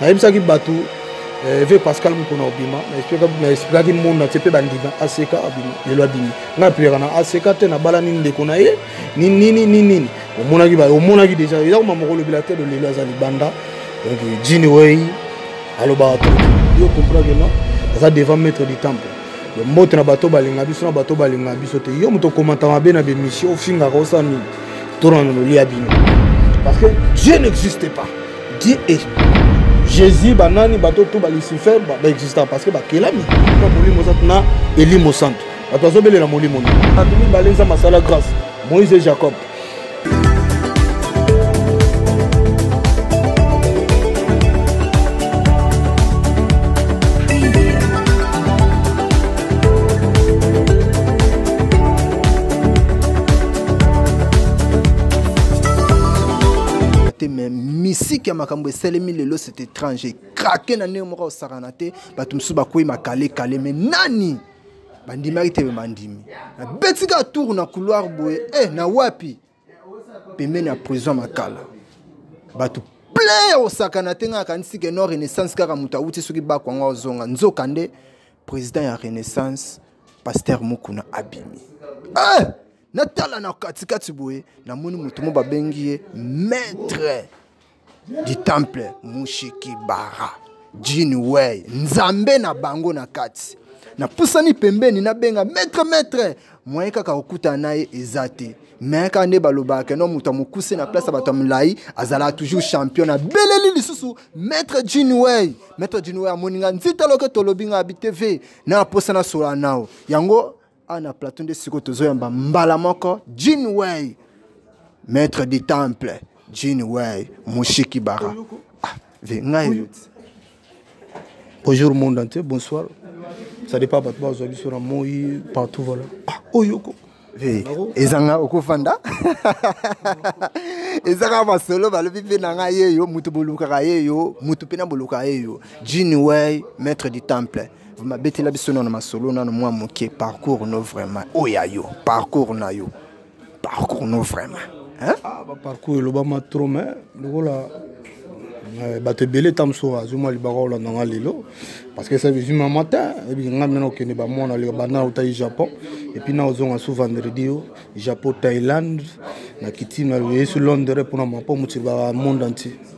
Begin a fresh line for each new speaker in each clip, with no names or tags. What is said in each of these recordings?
nayebisaki bato eh, ve pascal mokona obima naexplikaki monde natie mpe bandima aseka abima lelo abimi ngai aplikaka na aseka te nabalani ndeko na ye ninini ninini omonaki omonaki deja eza koma moko olobela te lolelo aza libanda donc jini wei alobaka yo comprendre non aza devant maître du temple mbote na bato balinga biso na bato balinga biso te yo moto okomata mabe na bemission ofingaka osala nini tona na loli ya bino parce que dieu n'existe pas dieu est jésus banani bato to balucifer baexista parce que bakelami na molimo santu na elimo santu bato bazobelela molimo nini bato mibale nzambe asala grâce moïse et jacob
musique ya makambo esalemi lelo c'est étrange ekrake na ndenge moko osakana te bato mosusu bakwei makale kale me nani bandimaki te me bandimi nabeti kaka tour na couloir boye e na wapi pembeni ya prison makala bato plein ya kosakana te ngai akanisi ke no renaissance kaka moto awuti soki bako yango azonga nzoka nde président ya renaissance paster mokuna abimi eh! natala na katikati boye namoni moto mo babengi ye maître du temple mushiki bara jini wey nzambe na bango na kati napusani pembeni nabenga maître maître moyen kaka kokutana na ye eza te me kaka nde balobaka keno moto ya mokuse na place ya bato ya molai azalaka toujours champion na beleli lisusu maître jinway maître jinway amoni nga nzita loke tolobi nga abi tv na aposa na sola nao yango awa na plateau nde sikoyo tozoyamba mbala moko jean way maître du temple jean way mushiki bara ah, ngai
bonjour monde entier bonsoir ça dépend bato bazwa biso na moi partout voilà ah, oyoko
ezanga okofanda eza kaka masolo balobi mpe na ngai yeyo moto bolukaka yeyo moto mpe na bolukaka yeyo jean way maître du temple mabetela biso nano masolo nano mwa moke parcours no vraiment oyo ya yo parcours na yo parcours no vraiment ah, baparcours elobama
trop mai lokola eh, bato ebele ta mosusu azwi mwa libaka olanda nga lelo parce que ça bizwi ma matin ebiki nga mena okende bamwana leka bana otai japon epuis na ozonga su vendredi yo japon thaïlande na kitime yesu londres mpona mapo motili ba monde entier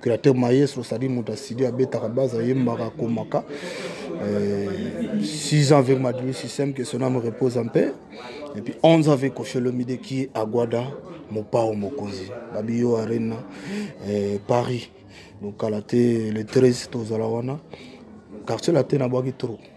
créateur maestro sadi moto asidi abetaka base ayembaka akomaka 6 euh, ans avec madri système que son âme repose en paix et puis 11 ans avec kosholomide qui est aguada mopao mokonzi babiyo arena euh, paris donc kala te le 13 tozala wana quartier latin abwaki trop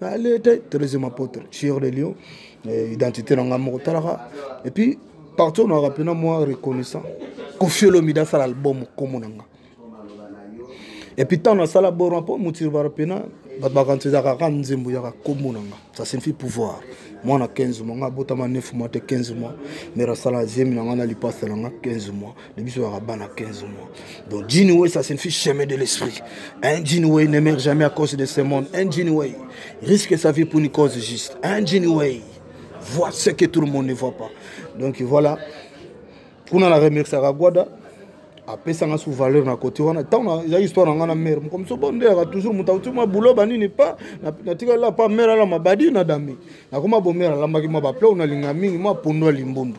alete troisième apôtre sur le lion eh, identité na ngai moko talaka et puis partout na rappe na moi reconnaissant kofiolomi dasala album komo na nga et puis ntango nasala borma mpo motiri barappe na bato bakanisa ezalaka kaka nzembo yaka komo na nga ça signifie pouvoir mwana 15 mois nga abotama 9 mois te 15 mois mera asala zemi na nga na lipasa na nga 15 mois Mais biso à 15 mois. Donc Jinwei, ça signifie chemin de l'esprit. Un Jinwei ne meurt jamais à cause de ce monde. Un Jinwei risque sa vie pour une cause juste. Un Jinwei voit ce que tout le monde ne voit pas. Donc voilà. Pour la remercier à Guada. apesanga sous valeur na côté wana ntango eza histoire na ngai na mare moko moso bo ndeyaka toujours moto auti mwa bulo banini pa natikali la pa mare alama badi na dame nakoma bomare alambaki mwa baplao nalinga mingi mwa pondo ya limbundu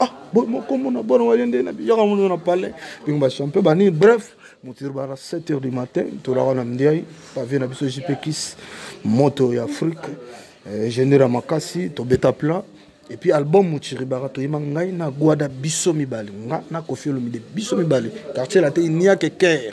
ah kombo na bana waye nde na biyaka mono na palais bingo bachampion banini bref motiri bana 7 heures du matin tolaka na mdiai pavie na biso jpekis moto ya afrique eh, ingénieur ya makasi tobeta plat epuis album mochiribaka toyima ngai na gwada biso mibale nga na kofi olomide biso mibale quartier late niake care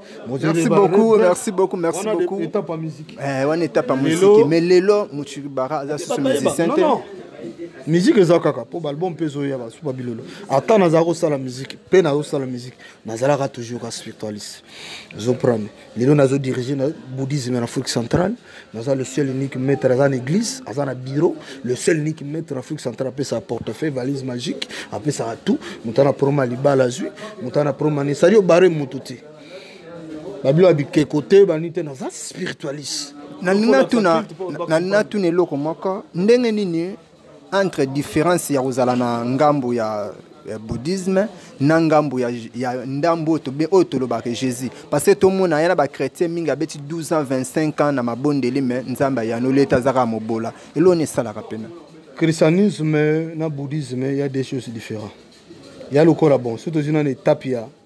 Merci beaucoup,
merci beaucoup, merci beaucoup. On étape à
musique. Eh, on étape à musique.
Mais Lelo, Mouchiribara, aza sous musicien. Non, non.
musique eza kaka mpo baalbum mpe ezoya basuba bilolo ata nazala kosala musique mpe nazosala musique nazalaka toujours ka spiritualiste ozoprane lelo nazodirige na bouddhisme na afrique centrale naza le seul unique maître aza na église aza na bureau le seul unique maître na afrique centrale apesaka portefeuille valise magique apesaka tout moto ana proma libala azwi moto ana proma nini sali obare motu te babilo ya bikeko te bani te naza spiritualiste
nalingi natuna eloko moko ndenge nini entre différence ya kozala na ngambo ya eh, bouddhisme na ngambo ya, ya ndambo oyo tobe oyo tolobaka jésus parce que tomona ye na bachrétien mingi abeti 12 ans 25 ans na mabondeli me nzambe ayanoli ete azaka mobola eloni esalaka mpena christianisme
na bouddhisme ya des choses différent ya lokola bon so tozwi nana etape ya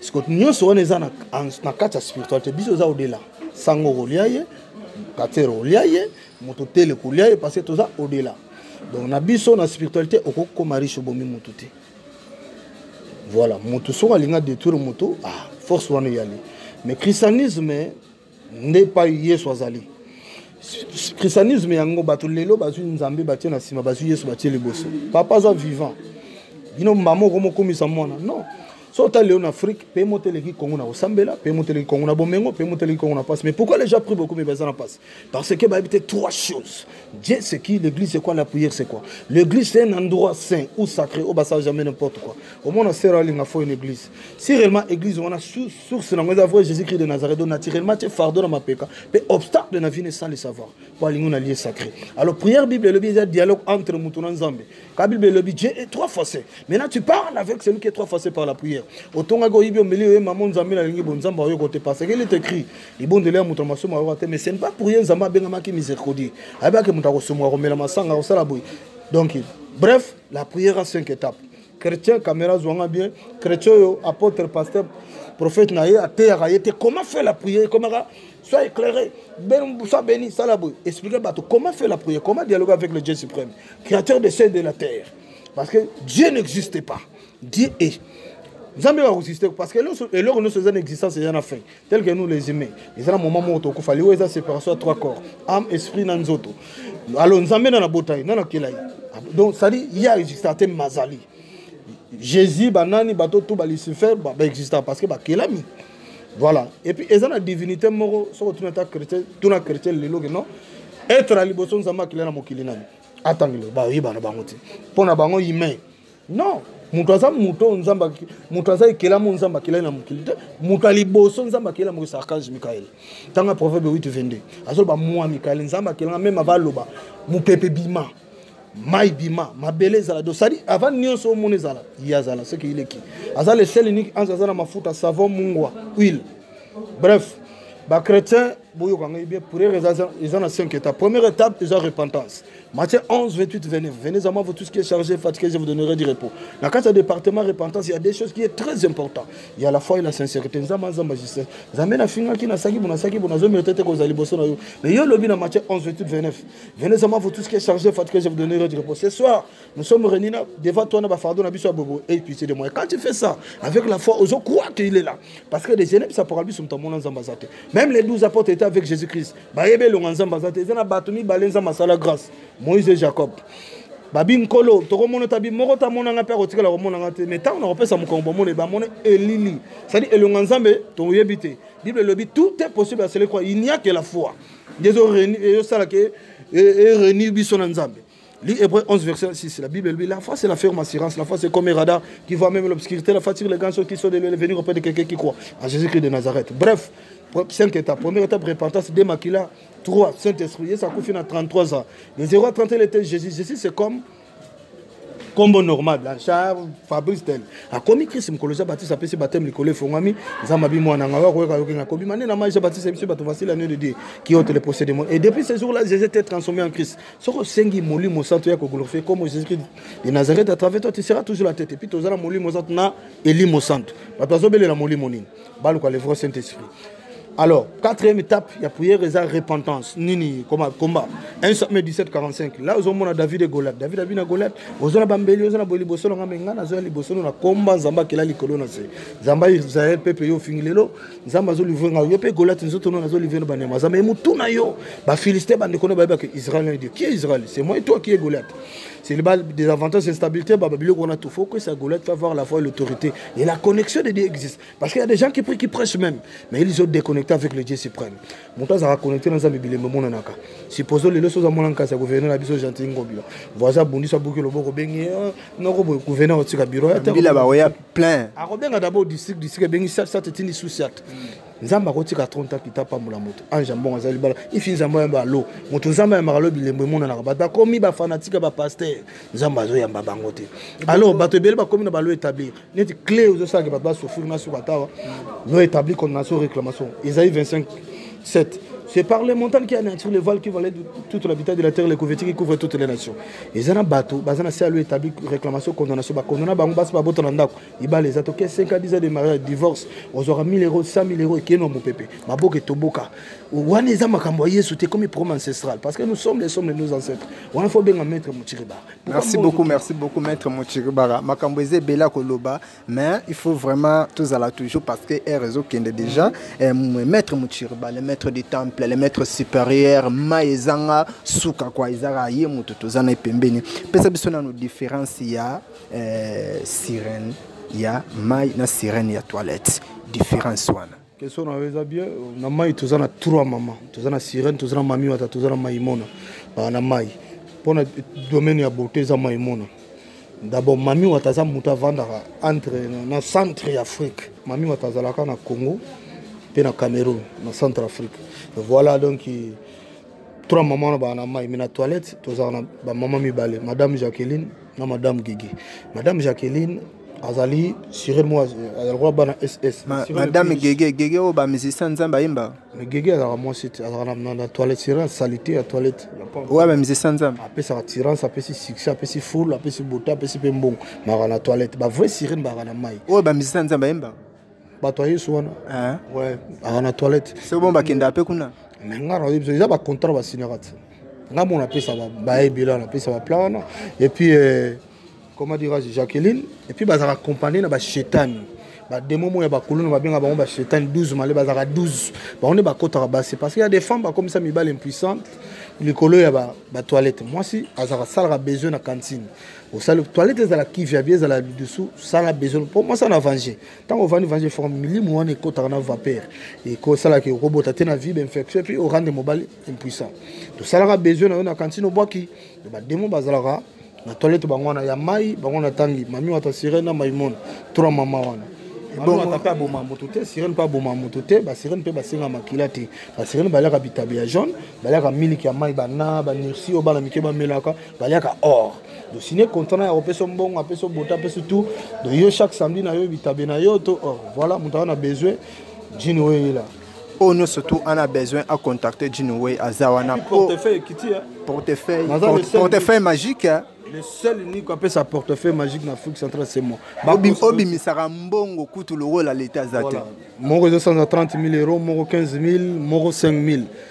siko nyonso wana eza na kati ya spiritualité biso eza odela sango okolia ye katere olia ye moto tele kolia ye parce que toza odela donc na biso na spiritualité okokoma riche obomi motu te voilà motu soki alinga détruire motu ah, force wana eyali mais christianisme nde epai yesu azali christianisme yango bato lelo bazwi nzambe batie na nsima bazwi yesu batie liboso papa aza vivant bino mama oko mokomisa mwana non so otali lelo na afrique mpe moto eleki kongo na kosambela mpe moto eleki kongo na bomengo mpe moto eleki kongo na mpasi mais pourquoi les gens pris beaucoup mais baza na mpasi parce que bayebi te trois choses dieu c'est qui l'église c'est quoi la prière c'est quoi l'église c'est un endroit saint ou sacré oyo basala jamais n'importe quoi omona sera alinga fo une église si réellement église wana source nango eza vrai jésus christ de nazareth do naturellement tie fardeau na mapeka mpe obstacle na vie nesali savoir mpo alingi na lie sacré alors prière bible elobi eza dialogue entre moto na nzambe ka bible elobi dieu est trois facé maintenant tu parles avec celui qui est trois facé par la prière otongaki oyibi omeli oye mama nzambe nalingi bo nzambe ayoka te parce que il est écrit libondeli ya moto na masumu ayoka te mais ce n'est pas pour ye nzambe abengamaki miséricordie ayebaki moto akosumuka komela masanga akosala boye donc bref la prière a cinq étapes chrétien camera zwanga bien chrétien oyo apôtre pasteur prophète na ye ateyaka ye te comment fait la prière ekomaka soit éclairé ben, soit béni sala boye explique bato comment fait la prière comment dialogue avec le dieu suprême créateur de ciel de la terre parce que dieu n'existe pas dieu est nzambe bakosiste parce que eloko nyonso eza na existence eza na fin tel que nous les humains eza na moment moko tokufa liwa eza séparation ya trois corps âme esprit na nzoto alo nzambe na nabota ye na nakela ye ah, donc cetadi ye aexista te mazali jésus banani bato tu balucifer baexista ba parce que bakelami ba voilà et puis eza na divinité moko soki otuna ata chrétien tuna chrétien lelo ke non être ya liboso nzambe akila na mokili nani atangelo bayebana bango te mpo na bango humain non moto aza moto oyo nzambe moto aza ekelami oyo nzambe akelai na mokili te moto ya liboso nzambe akela mokili archange mikael ntango ya proverbe 8 22 azoloba mwa mikael nzambe akelanga meme ava aloba mopepe bima mai bima mabele ezala do sadi avant nyonso omona ezala ye azala seke ileki aza le seul unique ange aza na mafuta savon mungwa huile bref bachrétien boyoka ngai bien prière eza na 5 étapes première étape eza repentance matthieu 11 28 29 venez à moi vous tous qui est chargé fatigué je vous donnerai du repos na kati ya département repentance il y a des choses qui est très important il y a la foi et la sincérité nzambe aza magistrat nzambe nafingaki nasaki bo nasaki bo nazomérite te kozala liboso na yo mais yo olobi na matthieu 11 28 29 venez à moi vous tous qui est chargé fatigué je vous donnerai du repos ce soir Nous sommes réunis là, devant toi, na fardeau, na biso bobo, et puis c'est de moi. Quand tu fais ça, avec la foi, aux croit qu'il est là. Parce que les génèbres, ça pourra lui son tamon en zambazate. Même les douze apôtres étaient avec Jésus-Christ. Bah, ebe long en zambazate, ils ont batumi balenza masala grâce. Moïse et Jacob. babi nkolo tokomona tabi moko tamona nga mpe akotikala komona nga te mais ntango nakopesa mokongo bomona bamona elili cestadi elonga nzambe toyebi te bible elobi tout est possible à celui croit il n'y a que la foi nde ezosalaka erenir biso na nzambe Lis Hébreu 11, verset 6. La Bible dit La foi, c'est la ferme assurance. La foi, c'est comme un radar qui voit même l'obscurité. La foi tire les grands choses qui sont de venir auprès de quelqu'un qui croit en Jésus-Christ de Nazareth. Bref, cinq étapes. Première étape, repentance, démaquila. 3, Saint-Esprit. Et ça coûte à 33 ans. De 0 à 30, il était Jésus. Jésus, c'est comme kombo normal la char fabrice tel akomi krist mokolo ja batise apesi bateme likolo efongwami nzambe abi mwana ngai akoyoka yoki ngai kobima nde na mai ja batise biso bato vasili anio de dieu qui ote le procès de monde et depuis ce jour là jésus était transformé en christ soki osengi molimo santu ya koglorifie comme jésus-christ de nazareth à travers toi tu seras toujours la tête epuis toza na molimo santu na elimo santu bato bazobelela molimo nini baluka le vrai saint esprit alors quatrième étape ya prière eza repentance nini koma combat 1 samuel 17 45 la ozomona david e goliath david abi na goliath oza na bambeli oza na boye liboso na ngai me ngai nazoya liboso no na komba nzambe akela likolo na se nzambe israel pepe yo ofingi lelo nzambe azolivre ngai yo mpe goliat nzoto nano azolivre no banyama nzambe motuna yo bafilistin bandeko no bayeba ke israel na dieu kie israel c'est moi toi kie goliat c'est ba des avantages instabilité baba biloko wana tout faut que ça goliat va voir la foi et l'autorité et la connexion de dieu existe parce qu'il y a des gens qui prient qui prêchent même mais ils ont déconnecté avec le dieu suprême moto azalaka connecté na nzambe bilembo emonanaka supposons lelo soza mwana nkasi ya gouverneur na biso gentil ngobila voisin abundisi abuki loboko bengi eh, noko boye gouverneur otika biro ya te
plein akobenga d'abord district
district ebengi sat sat etindi sous sat nzambe akotika 30 ans pita apambola moto ange ya mbongo aza libala ifi nzambe oyamba alo moto nzambe ayambaka lo bilembo emonanaka bato bakomi bafanatike bapaster nzambe azoyamba bango te alors bato ebele bakomi na balo établir neti clé ozosalaka bato basofiri na suka tawa lo établir condamnation réclamation ezali 25 7 c'est par les montagnes qui anéantir les voiles qui valaient toute l'habitat de la terre les couvertures qui couvrent toutes les nations eza na bato baza na se alo établi réclamation condamnation bakondana bango basi babota na ndako ibale eza toke 5 10 de mariage divorce ozwaka 1000 euro 100 000 euro ekeno mopepe maboka etoboka wana eza makambo ya yesu te comme programme ancestral parce que nous sommes les sommes nos ancêtres wana fo benga maître mochiribara merci beaucoup merci
beaucoup maître mochiribara makambo eza ebele ya koloba mais il faut vraiment tozala toujours parce que air ezokende déjà eh, maître muchirba le maître du temple le maître supérieur ma ezanga suka kwa ezaka ye moto toza na ye pembeni pesa biso nano différence ya eh, sirène ya mai na sirène ya toilette différence wana question na yo eza bien
na mai toza na trois mama toza na sirene toza na mami wata toza na maimona ah, na mai mpona domaine ya beauté eza maimona d'abord mami wata aza moto avandaka entre na centre ya afrique mami wata azalaka na congo mpe na cameroun na centre afrique voilà donc trois mama wana baa na mai me na toilette tozala na bamama mibale madame jacqueline na madame gigi madame jacqueline azali sure mo azali koya bana ss madame gege
gege oyo bamusicien nzambe ayemba me gege azalaka mwasi
te azalaka na toilette sure salite ya toilette oyo bamusicien
nzambe apesaka tirance apesi
succès apesi foule apesi bota apesi mpe mbongo maka na toilette bavrai sirene baka na mai oyo bamusicien nzambe ayemba
bato ya yesu
wana eh. aa na toilette se bon bakenda mpe kuna
me ngai nayebi biso eza
bacontrat basinaka te ngai mona apesa baebela napesa baplan wana epuis euh, comment dirais-je jacqueline epuis bazalaka accompagne na bashetani bademo moya bakuluna babenga bango bashetani 12 male bazalaka 12 bango nde bakotaka basi parce que ya des femmes bakomisa mibale impuissante likolo ya batoilette mwasi azalaka asalaka besoin na cantine osali toilette ezala kivya bie ezala lidusu sala besoin mpo mwasi ana vange ntango ovandi vange fo milimu wana ekotaka na vapeur ekosalaki okobota te na vibe infection epuis orande mobali impuissant tosalaka besoin na yo na kantine obwaki bademo bazalaka na toilette bango wana ya mai bango na tangi mami wata sirene na maimona tura mama wana ebongo mpe aboma moto te sirene mpe aboma moto te basirene mpe basenga makila te basirene baliaka bitabe ya jaune baliaka miliki ya mai bana banirsi oyo bana mike bamelaka baliaka or dosine contrat na ya kopesa mbongo apesa bota apesa tout donc yo chaque samedi na yo bitabe na yo to or voilà moto aza na besoin jini oyo eyela oyo
nyonso tu ana besoin acontacte jini oyo aza wana portefeuille portefeuille magique le seul unique
apesa portefeuille magique na afrique centrale c'est moi obimisaka
mbongo kutu lokola leta aza te moko ezosanza
30 000 euro moko 15 000 moko 5 000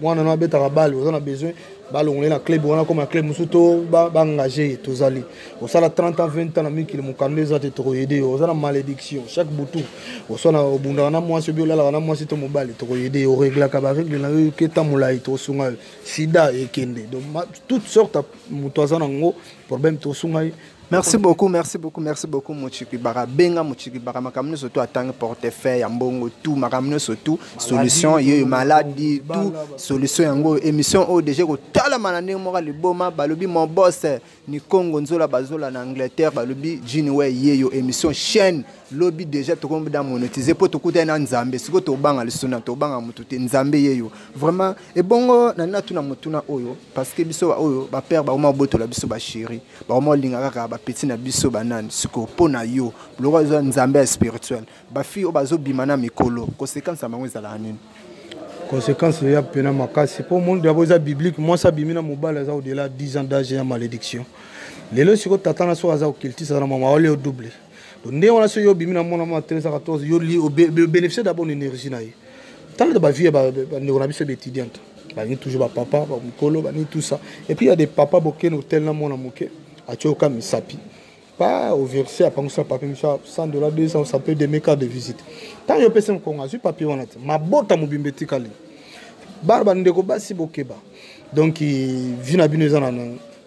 mwana no abetaka bale oza na besoin balongole na club wana koma club mosusu to baengage ye tozali osala 30 ans 20 ans na mikili mokanda eza te tokoyede yo oza na malédiction chaque butu oswana obundaka na mwasi obi olalaka na mwasi to mobali tokoyede yo oreglaka baregle na yo ke ntan molai tokosunga yo sida ekende donc toute sorte moto aza na yango problème tokosunga ye merci beaucoup
merci beaucoup merci beaucoup mochikibaka benga mochikibaka makambo nyonso tu atangi portefeuille ya mbongo tu makambo nyonso tu solution yeyo maladi tu solution yango émission oyo deja ekotalama na ndenge moko liboma balobi mon boss nikongo nzola bazola na angleterre balobi jiniwe yeyo émission chaîne lobi deja tokomi da monetize mpo tokutani na nzambe sikoyo tobanga lisuna tobanga motu te nzambe yeyo vraiment ebongo na nina tuna motuna oyo parce que biso baoyo bapere bakoma botola biso basheri bakoma olinga kaka bapeti na biso banani sikoyo mpo na yo biloko eza nzambe ya spirituel bafille oyo bazobima na mikolo conséquence ya bango ezalaka nini conséquence
eya mpena makasi mpo monde yango eza biblique mwasi abimi na mobali aza odela 10 ans d'age ya malédiction lelo sikoyo tata na soko aza kokiltisa na mama wale yo double donc ndenge wana soki yo obimi na mwana mwa 13 14 yo li obénéficie d'abord na énergie na ye talata bavie ya bandeko na biso ebe étudiante balingi toujours bapapa bamikolo balingi tout ça et puis ya des papa bokende hotel na mwana moke atye oka misapi pas au verset apangisa papier miso 100 dollars 200 ça peut deme carte de visite ntango yo opesa mokongo azwi papier wana te mabota mobimba etikali bana bandeko basi bokeba donc vi na bino eza na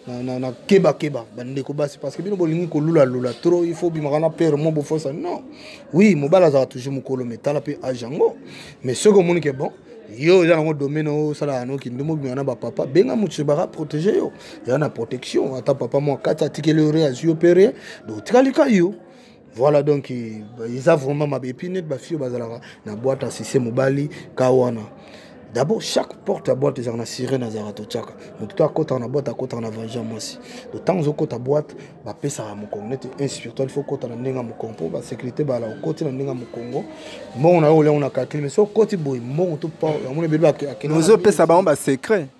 na, na, na keba keba bandeko basi parce que bino bolingi kolula lula trop il faut bimaka na père mo bofosa non oui mobali azala toujours mokolo mais tala mpe age yango mais soki omoni ke bon yo oza nango domaine osalaka no kindumbu bimaka na bapapa benga moto baka protege yo eza na protection ata papa mwa kati atikeli yo re azwi yo mpe re donc otikali ka yo voilà donc eza vraiment mabe epuis neti bafi oyo bazalaka na boite asise mobali ka wana d'abord chaque porte ya boite ezalaka na sirene azalaka totyaka moto to akotaka na boite akotaka na vanja mwasi to ntango ozokota boite bapesaka mokongo neti un spirituel fo okota na ndenge ya mokongo mpo basécurité bala okoti na ndenge ya mokongo mbongo na yo oliango na calcule mais so okoti boye mbongo to yango na ebele akende ozopesa bango
basecret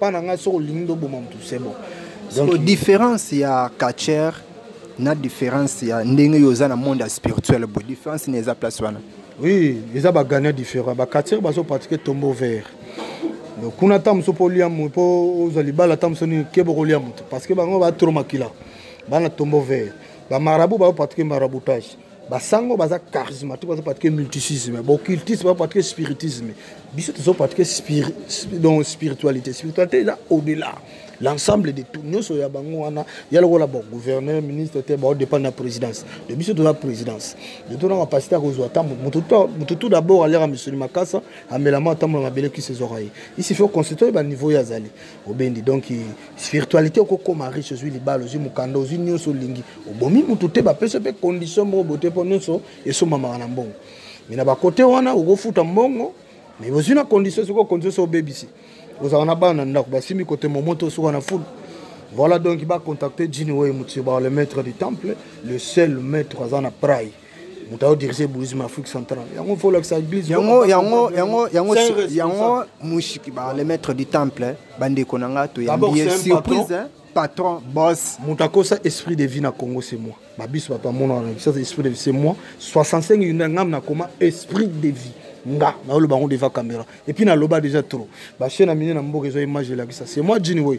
pa na ngai soki olingi nde oboma motu c'est bon donc différence
ya catcher na différence ya ndenge yo oza na monde ya spirituel bo différence na eza place wana oui eza
bagania différent bacatcher bazo pratique tombeau vert donc kuna ata mosusu mpo olia mpo ozwa libala ata mosusu nini keba okolia moto parce que bango batro makila bana tombeau vert bamarabu bazo pratique maraboutage basango baza charismatique bazo patike multisisme bocultisme bazo patike spiritisme biso tozo patike spiri, donc spiritualité spiritualité eza au delà l'ensemble de tout nyonso ya bango wana ya lokola bon gouverneur ministre te baodépendre na présidence de biso toza présidence de tona capacité ya kozwa ntango moto tout d'abord aliaka misuni makasa amelama ntango na mabele kisi ezwaka ye isi faut constitue baniveau ye azali obendi donc spiritualité okokoma riche ozwi libala ozwi mokanda ozwi nyonso olingi obomi motu te bapesa mpe condition moko bote mpo nyonso esombamaka na mbongo me na bakote wana okofuta mbongo me ozwi na condition soki okonzi oso obebisi ozalaka na bana na ndako basimbi kote momoto osuka na fulu voilà donc bacontacte jini oyo motiyo ba le maître du temple le seul maître aza na prai moto aodirige boulisme afrique centrale yango fo olakisa église yango yango yango
yango yango mushiki ba le maître du temple bandeko na nga toyambi ye surprise patron boss moto akosa esprit de
vie na congo c'est moi babiso bato amona wana ça esprit de vie c'est moi 65 yunda ngam na koma esprit de vie nga naoloba yango devant caméra epuis naloba déjà trop bachaine amine na mboka ezwa image elakisa c'est moi jini woi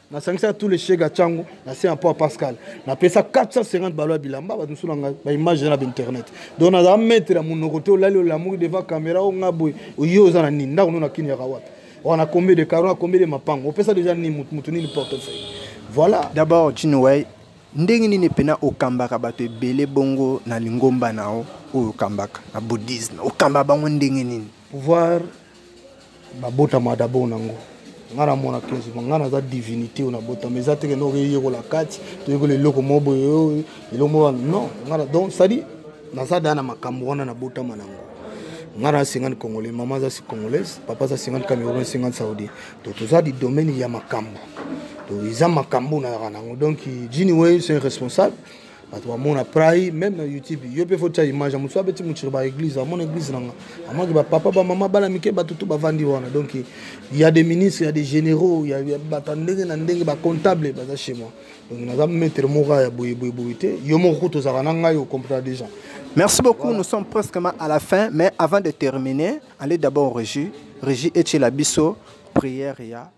nasangisa tous les chega chango na se mpo ya pascal napesa 450 balo ya bilamba bato mosusu nanga baimage na bainternet donc nazala maître ya monoko te olali olamuki devant caméra o nga boye oye oza na nini ndako no na kini yaka wapi wana combien de caro na combien de mapango opesa déjà nini motu nini portefeuille voilà d'abord chinoway
ndenge nini mpena okambaka bato ebele bongo na lingomba na yo oyo okambaka na bouddhisme okamba bango ndenge nini pouvoir
nabotama dabord nango ngai namona kenzo ma ngai naza divinité oyo nabotama eza teke noko eyekola kati toyekola eloko moko boye oyo eloko moko non ngai donc sadi naza daa na makambo wana nabotama nango ngai na 50 congolais mama aza si congolaise papa aza 50 cameroun 50 saudi to toza di domaine ya makambo to eza makambo nayaka nango donc jini wei c'est responsable bato bamona prai meme na youtube yo mpe fotya image ya mosu abeti motiri ba église amona église nanga amonaki bapapa bamama bana mike bato tu bavandi wana donc ya des ministres ya des généraux ya bato ya ndenge na ndenge bacomptable baza chez moi donc naza maître moko ya boyeboyeboye te yo moko kutu ozalaka na ngai ocomprena déjà merci beaucoup voilà.
nous sommes presque à la fin mais avant de terminer allez d'abord régi régi etiela biso prière ya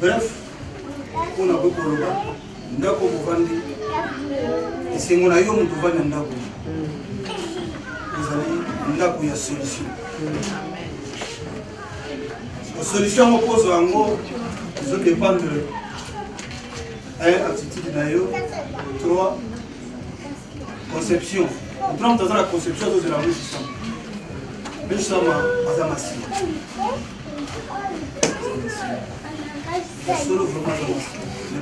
bref mpo na koki koloba ndako kovandi esengo na yo moto ovandi na ndako ezali ndako ya solution solution yango kozwa yango ezodépendre eh, attitude na yo trois conception otuna moto aza na conception azozela mosisama mosisama aza masina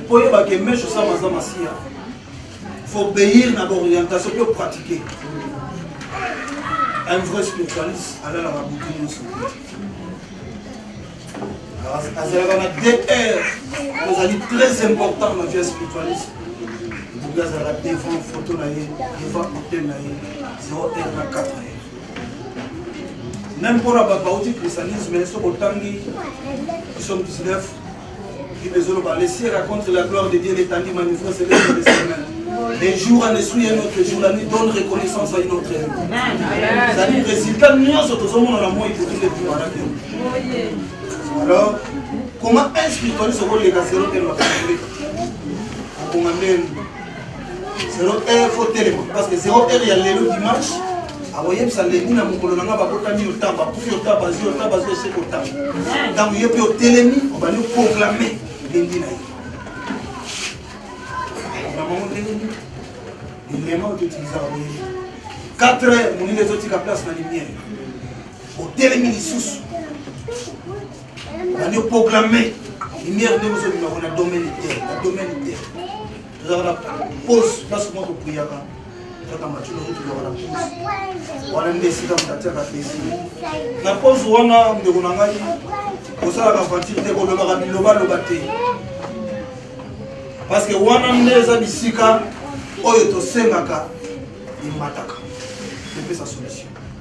mpo oyebaka emeshe osama aza masiya faut obéir na baorientation mpe opratike un vrai spiritualiste alalaka butu nyonso azalaka na dr ozali très important na vie spiritualiste buki azalaka devant photo na ye devant hotel na ye 0 r na 4 ye meme mpona bato bauti christianisme soki otangi psaume 19 bible ezoloba le ciel raconte la gloire de dieu l'étendue manifeste celeste de ses mains les jours en eswi un autre jour la nuit donne reconnaissance à une autre ezali résultat nyonso tozomona na moi ekoki nde tumanaki alors comment un spiritualiste okoleka zero te lokola okonga ndeni zero heure fo telema parce que zero heure ya lelo dimanche akoyebisa lendi na mokolo na ngai babotami yo ntango bakufi yo ntango bazwi yo ntango bazwi ese kotango ntango ye mpe otelemi obandi oproklame lendi na ye nabango ndenge nini elema oyo toutilisaka boyebi 4 heures molili ezotika place na lumière otelemi lisusu Nani proclamer lumière nde bozobimako na domaine te na domaine te tozalaka na pose place moko priyaka kaka matino oyo tozalaka na pose wana nde esika moto atiaka plaisir na pose wana ndeko na ngai kosalaka vantire te kolobaka bilobaloba te parce que wana nde eza bisika oyo tosengaka emataka epesa solution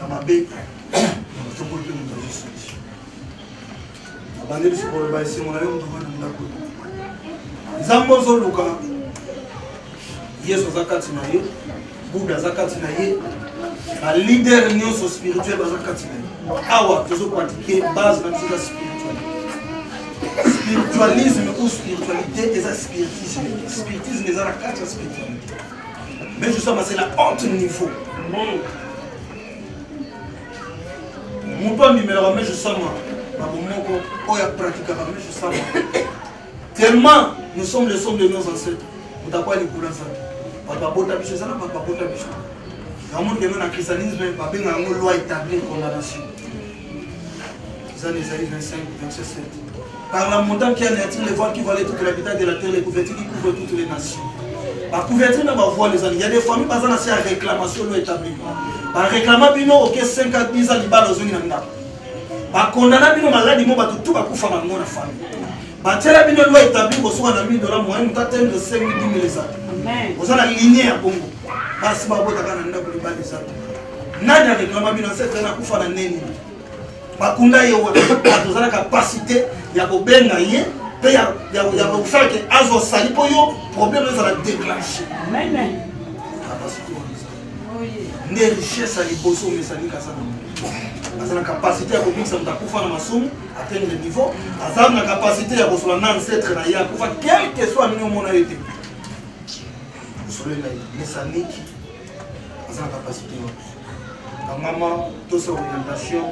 na mabe tokoli mpe moto azwi solution abandeli sikoloba esengo na yo moto wana ndako nzambe ozoluka yesu aza kati na ye buda aza kati na ye balider nyonso spirituel baza kati na ye awa tozopratike base na biso eza spirituel spiritualisme ou spiritualité eza spiritisme spiritisme eza na kati ya spiritualité Mais je sens c'est la haute niveau. Amen. Moto abimelaka mais je sens makambo moko oyo apratikaka mais je sens tellement nous sommes le somme de nos ancêtres moto akwa likolo ya nzambe bato babota biso eza na bato babota biso yango ndenge na christianisme babengaka yango loi établir condamnation Zan Esaïe 25, verset 7. Par la montagne qui anéantit les voiles qui voilaient toute l'habitat de la terre, les couvertures qui couvrent toutes les nations. Ba couverture na ba voile ezali. Il y a des familles baza na sia réclamation lo établi. Ba réclama bino OK 5 à 10 ans libala ozongi na ndako. Ba condamna bino maladi mo bato tout bakufa bango na famille. Ba tiela bino lo établi kosuka na 1000 dollars moyen mutu atendre 5000 10 000 ezali. Amen. Oza na ligne ya bongo. Basi babotaka na ndako libala ezali. nani a réclama bino cette année akufa na neni bakunda ye wana tozala capacité ya kobenga ye mpe ya kosala ke azwa sali mpo yo problème ezala déclenche nde richesse ya liboso omesani kaza na aza na capacité ya kobikisa moto akufa na masumu atteindre niveau aza na capacité ya kosola na ancetre na ye akufa quelque soit ndenge omona ye te osolela ye mesaniki aza na capacité wapi kangama tosa orientation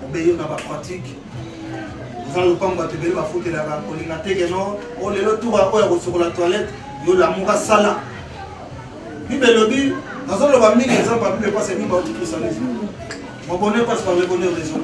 obeyo na bapratique oza lopango bato ebele bafutelaka kolinga teke no o oh, lelo tura oyo ya kosokola toilette yo lamuka sala bible elobi nazoloba mingi exemple ya bible mpasi ya mingi baotikrisanisme mobone mpasi bango ebone raison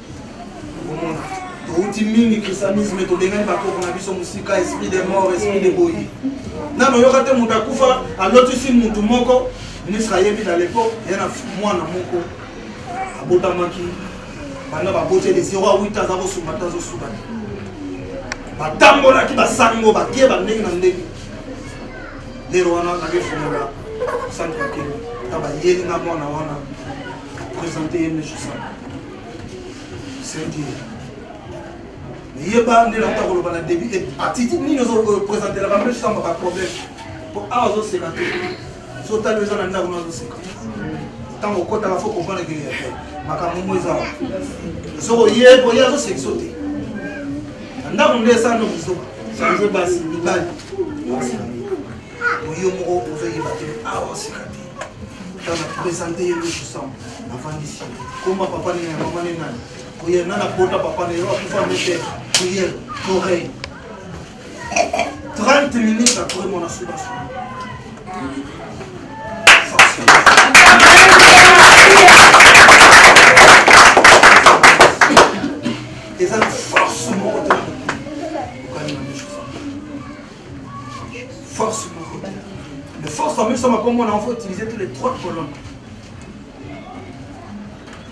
touti mingi christianisme tobengani bakoko na biso mosika esprit de mort esprit de boyi nano oyoka te moto akufa alotisi motu moko ministre ayebi na lepo ya na mwana moko abotamaki banda baboti ele 0 a 8 aza kosunga te azosuka te batambolaki basango bakie bandenge na ndenge lelo wana nakefungola centre akeli ta bayeli na mwana wana présente ye mesosana yeba nde nakuta koloba na début te attitude nini ozopresentelaka mpe samba ba problème mpo awa ozoseka te so otali eza na ndako na ozoseka ntango okotaka fo comprendre ke makambo mo eza soko ye koye azosekiso te na ndako nde esano biso change basi mibali oyo moko ozoyeba te awa sika te tana présente ye loso sam avandisi koma papa nene mama ne nani koye nana bota papa ne yo akufa mete koye torei 30 minutes après mon assurance. eza na force moko te Force moko. Le force en même temps, comme on a faut utiliser tous les trois colonnes.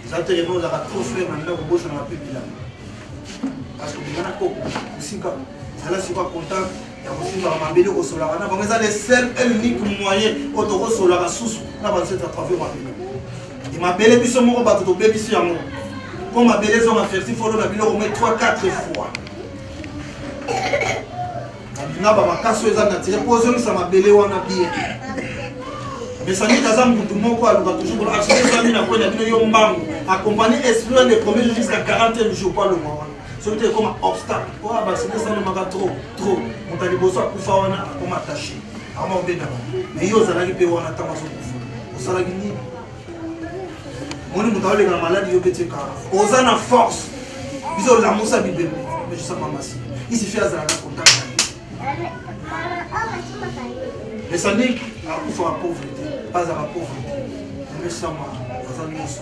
eza te lelo ozalaka trop frere na ndako bosanaka mpe bilanga parce que bilanga koko kosika zala sikoya contact ya kosimbaka mabele kosolaka na bango eza le seul et unique moyen oyo tokosolaka susu na banset à travers mabele e mabele biso moko bato tobebisi yango mpo mabele ezonga ferti folo na biloko mai 3 4 fois na ba makasi oyo eza natire mpo ozongisa mabele wana bien mesanite aza mutu moko aluka toujours kolo action ezami na kwena bino yo mbangu accompagné esprit wana le premier jour jusqu'à 40 jour mpo alonga wana soki te ekoma obstacle mpo oh, basite esalemaka trop trop moto ya liboso akufa wana akoma attaché ama obendaka mais yo ozalaki mpe wana ntango azokufa osalaki nini moni moto aoleka na maladi yo pete kaka oza na force biso olamusa bibembe ejusama masi isifi azala na contact esaniki akufa ba pauvrete bazala pauvrete mesama aza nyonso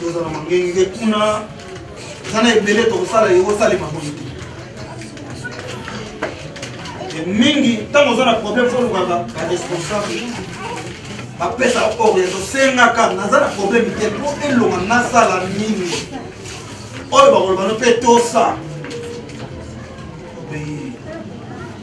toza na mangenge kuna eza na ebele tokosala ekosalema boye te mingi ntango oza na problème fo olukaka baresponsable bapesa oyo tosengaka naza na problème te mpo elonga nasala nini oyo bakoloba no mpe tosa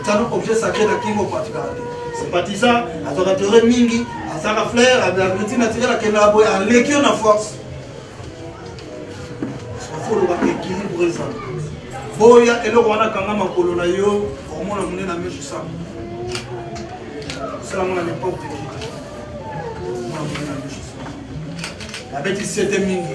otana objet sacré na kingo patikaka te sympatisa azwaka teore mingi asaka flair abeti naturel akendaka boye aleki yo na force fo olobaka équilibre eza boya eloko wana kanga makolo na yo okomona mone na misu sa osalamo na n'importe qui abeti sete mingi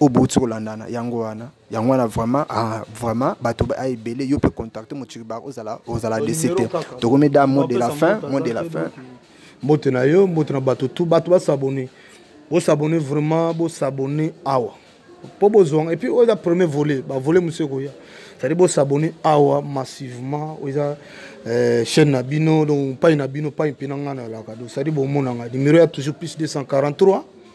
oyo bouti kolandana yango wana yango wana vraiment ah, vraiment bato ah, ebele yo mpe contacte mochiribar ozala ozala desi te tokomi da mot de la fin mot de la fin
mbote na yo mbote na bato tu bato basabone bosabone vraiment bosabone awa mpo bozwanga epuis oyo eza premier volet bavolet mosu ekoya cetadi bosabone awa massivement oyo eza euh, chaîne na bino donc pai na bino pai mpe na ngai na elaka donc cetadi bomonanga numero ya toujours plus 243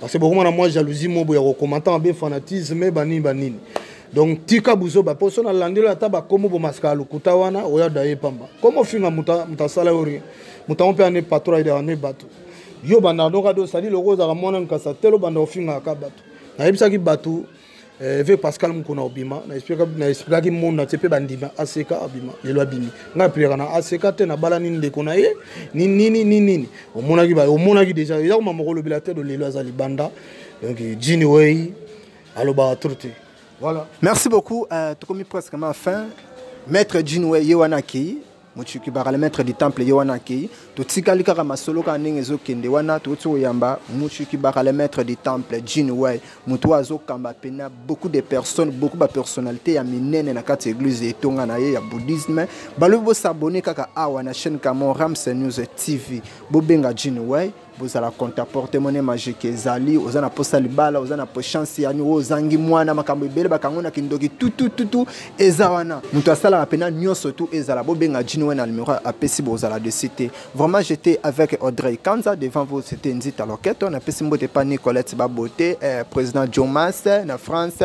parce que bokoma na mwa jalousie moko boya kokomanta mabe fanatisme banini banini donc tika buzoba mpo so nalandeli ata bakomo bomasaka ya lokuta wana oya da ye pamba komo ofinga moto asala yo rien moto yango mpe ane patro ayidaka ne bato yo bandaka noka do sali loko ozalaka mwana nkasa telo banda ofingaka bato nayebisaki bato Eh, ve pascal mokona obima na expliquaki monde na te mpe bandima ack abima lelo abimi ngai aplikaka na ack te nabalani ndeko na ye ni nini ni nini omonaki ba omonaki deja eza koma moko olobela te do lelo aza libanda donc jini wei alobaka trop te voilà merci beaucoup uh,
tokomi presque ma fin maître jini wei ye wana akei motuki baka le maître du temple ye wana akei totikali kaka masolo kaka ndenge ezokende wana toti koyamba motuki baka le maître du temple jin way moto oyo azokamba mpena beaucoup de personnes beaucoup bapersonnalité ya minene na kati ya église etonga na ye ya bouddhisme balobi bosabone kaka awa na chaîne camon rams news tv bobenga jin way bozala contaporte mone magique ezali oza na posa libala oza na po chance yani oyo ozangi mwana makambo ebele bakango na kindoki tutututu eza wana moto asalaka mpena nyonso tu ezala bobenga jini wana numero apesi bozala dessus te vraiment j'étais avec audrey kanza devant vous c'était nzita loketo napesi mbote pa nicolette babote eh, président jomas na france